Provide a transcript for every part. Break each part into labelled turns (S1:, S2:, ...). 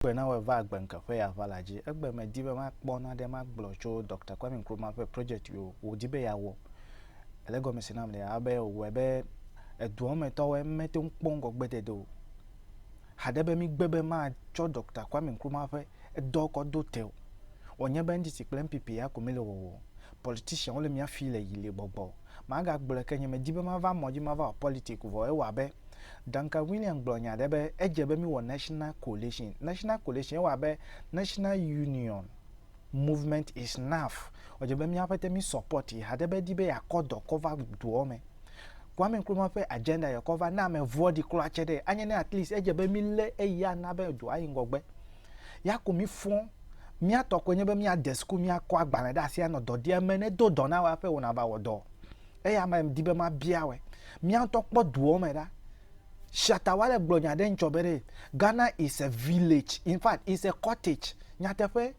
S1: Egbe nawɔe va agbe ŋke ƒe ya va la dzi. Egbe me di be ma kpɔ naɖe ma gblɔ tso Doctor Kwame Nkrumah ƒe project yo wo di be ya wɔ. Ele gɔme se nam lea abe o wɔe be eduɔ me tɔwoe mme te ŋu kpɔ ŋgɔ gbe dede o. Haɖe be mi gbe be ma tsɔ Doctor Kwame Nkrumah ƒe edɔ kɔ do te o. Wɔ nye be NDC kple NPP ya ko mi le wɔwɔ o. politician wole mia fi le yile gbɔgbɔ maga gblɔe ke nye me di be ma va mɔ dzi ma va wɔ politic vɔ ewa abe Duncan William gblɔ nya ɖe be edze be mi wɔ national coalition national coalition ewa abe national union movement is naf edze be mia ƒete mi support yi haɖe be di be ya kɔ dɔ kɔ va doɔ me Kwame Nkrumah ƒe agenda yɛ kɔ va ne ame vɔɖi klɔ atse ɖe anye ne at least edze be mi le eyi ana be doa yi ŋgɔgbe ya ko mi fɔ mía tɔ koe nye be mía de suku mía kɔ agbalẽ ɖe asi anɔ dɔ di ame ne do dɔ na wa ƒe wona va wɔ dɔ eya ma di be ma bia wɛ mía ŋutɔ kpɔ duɔ me ɖa shata wa le gblɔ nya ɖe ŋtsɔ be ɖe ghana is a village in fact is a cottage nyateƒe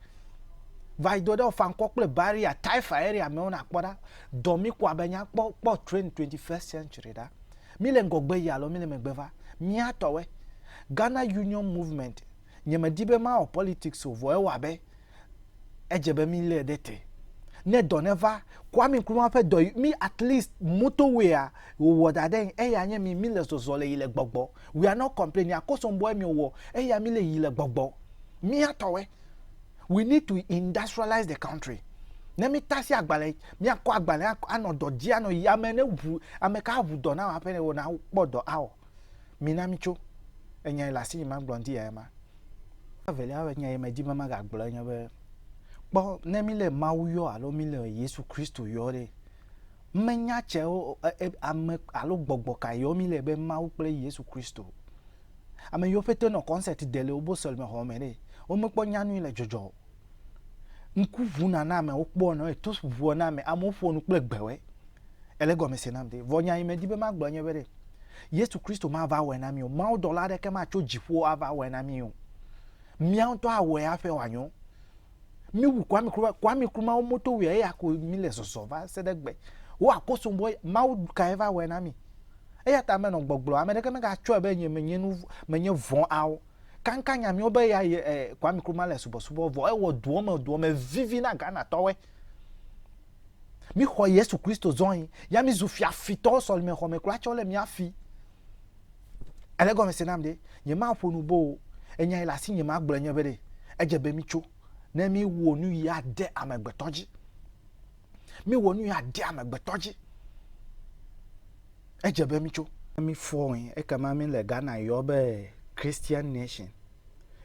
S1: va do ɖe fankɔ kple barrier taifa area me wona kpɔ ɖa dɔ mi kɔ abe nya kpɔ kpɔ train 21st century ɖa mi le ŋgɔgbe yi alo mi le megbe va mía tɔwɛ ghana union movement Nye me di be ma wɔ politics o vɔ ewa be edze be mi le ɖe te. Ne dɔ ne va, Kwame Nkrumah ƒe dɔ yi mi at least motorway a wo wɔ da ɖe ŋ eya nye mi mi le zɔzɔ le yi le gbɔgbɔ. We are not complaining akɔsɔn bɔɛ mi wɔ eya mi le yi le gbɔgbɔ. Mia tɔwɛ. We need to industrialize the country. Ne mi tasi agbalɛ, mia kɔ agbalɛ a anɔ dɔ dzi anɔ yi ame ne ŋu, ame ka ŋu dɔ na wɔ aƒe ne wɔ na kpɔ dɔ awɔ. Mina mitso. Enyae le asinye magblɔ ŋdi yae ma. Evelia be nya yi medi be magagblɔe nye be, kpɔ, ne míle Mawu yɔ alo míle Yesu Kristo yɔ ɖe, me nya cɛwo ame alo gbɔgbɔ ka yɔ míle be Mawu kple Yesu Kristo. Ame yiwo pɛtɛ nɔ kɔnsɛti de le wobo sɔlimexɔ me ɖe, womekpɔ nya nui le dzɔdzɔ o. Ŋku ʋuna na amea, wokpɔa nɔ eto ʋua na ame. Amewo ƒoa nu kple gbewɔe. Ele gɔme se nam de. Vɔ nya yi medi be magblɔ nye be ɖe Yesu Kristo mava wɔe na mí o. Mawu dɔla aɖeke matso dziƒo ava wɔe na mí o. Mía ŋutɔ awɔe hafi wòanyo. Míwu Kwame Nkrumah. Kwame Nkrumah wo moto wia eya ko mí le zɔzɔ va se ɖe gbe. Wo akoso bɔ Mawu kae va wɔe na mí. Eya ta menɔ gbɔgblɔ ame ɖeke megatsɔe be nye menye nu menye vɔ̃ ao. Kankan nya miwo be ya ye eh, Kwame Nkrumah le subɔsubɔ vɔ ewɔ duɔ me duɔ me vivi na Ghana tɔwe. Mi xɔ Yesu Kristo zɔin ya mi zu fia fitɔ sɔlime xɔ me kura tsɔ le mia fi. Ele gɔme se nam de nye ma ƒo nu bo enya yi le asi nye ma gblɔ nye be de edze be mi tso ne mi wo nu yi ade amegbetɔ dzi. Míwɔ nu yi ade amegbetɔ dzi. Edze be mitso. Ne mifɔ̃e, ekema míele Ghana yɔ be Christian Nation.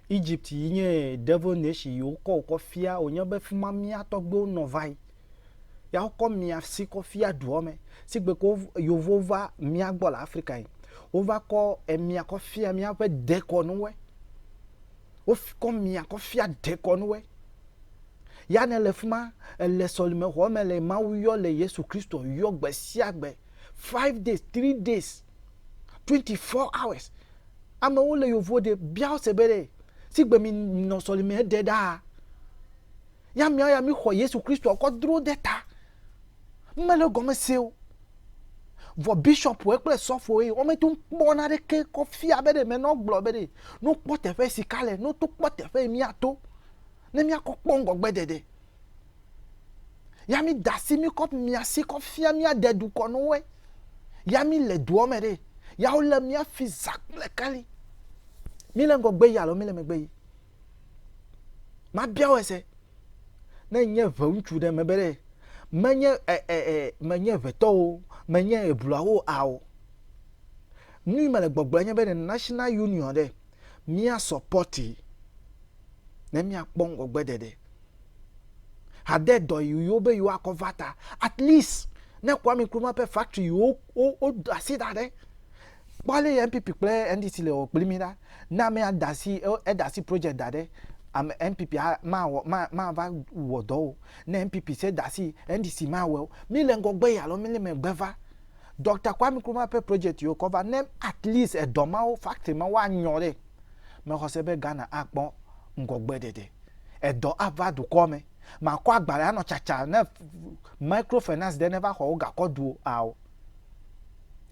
S1: Egypt yi nye Devil Nation yi wokɔ wò kɔ fia wò nye be fima mía tɔgbuiwo nɔ va yi. Ya wokɔ mia si kɔ fia duɔ me. Sigbe ke Yovowo va mía gbɔ le Afrika yi, wova kɔ emia kɔ fia míaƒe dekɔnuwoe. Wokɔ mia kɔ fia dekɔnuwoe. Ya ne le fi ma, èle sɔlimexɔ me le Mawu yɔ le Yesu Kristo yɔ gbe sia gbe. Five days, three days, twenty four hours. Amewo le yovo ɖe bia wo se be ɖe si gbe mi nɔ sɔlime ɖe ɖaa. Ya mia ya mi xɔ Yesu Kristo kɔ dro de ta. Mele gɔme se o. Vɔ bishɔpue kple sɔfoe wo meto kpɔ na ɖe ke kɔ fia be ɖe menɔ gblɔ be ɖe no kpɔ teƒe sika le no to kpɔ teƒe mia to. Ne míakɔ kpɔ ŋgɔgbeɖeɖe ya mi da si mi kɔ mia si kɔ fia mia de du kɔ no we ya mi le duɔ me ɖe ya wo le mia fi za kple kali mi le ŋgɔgbe yi alo mi le megbe yi ma bia wo ese ne nye ve ŋutsu ɖe me be ɖe me nye ɛ ɛ ɛ me nye vetɔwo me nye ebluawo ao nui me le gbɔgblɔ nye be ne national union ɖe mía sɔpɔtii ne míakpɔ ŋgɔgbeɖeɖe. Hade dɔ yi wo be yewoakɔ va ta. At least ne Kwame Nkrumah ƒe factory yi wodo asi ɖa ɖe, kpɔ ale yi NPP kple NDC le wɔ kpli mí ɖa. Ne ame ada asi eda asi project da ɖe, ame NPP mawɔ mava wɔ dɔ o. Ne NPP se da asi NDC mawɔe o. Míle ŋgɔgbe yi alo míle megbe va. Doctor Kwame Nkrumah ƒe project yiwo kɔ va ne at least edɔ mawo factory mawo anyɔ ɖe mexɔse be Ghana akpɔ ŋgɔgbe ɖeɖe edɔ ava dukɔ me makɔ agbalẽ anɔ tsatsa ne micro finance ɖe ne va xɔ wo gakɔ duo ao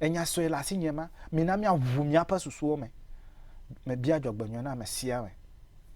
S1: enya sɔe le asi nye ma mina mia ʋu mia ƒe susuwo me me bia dzɔgbenyɔ na me sia
S2: me.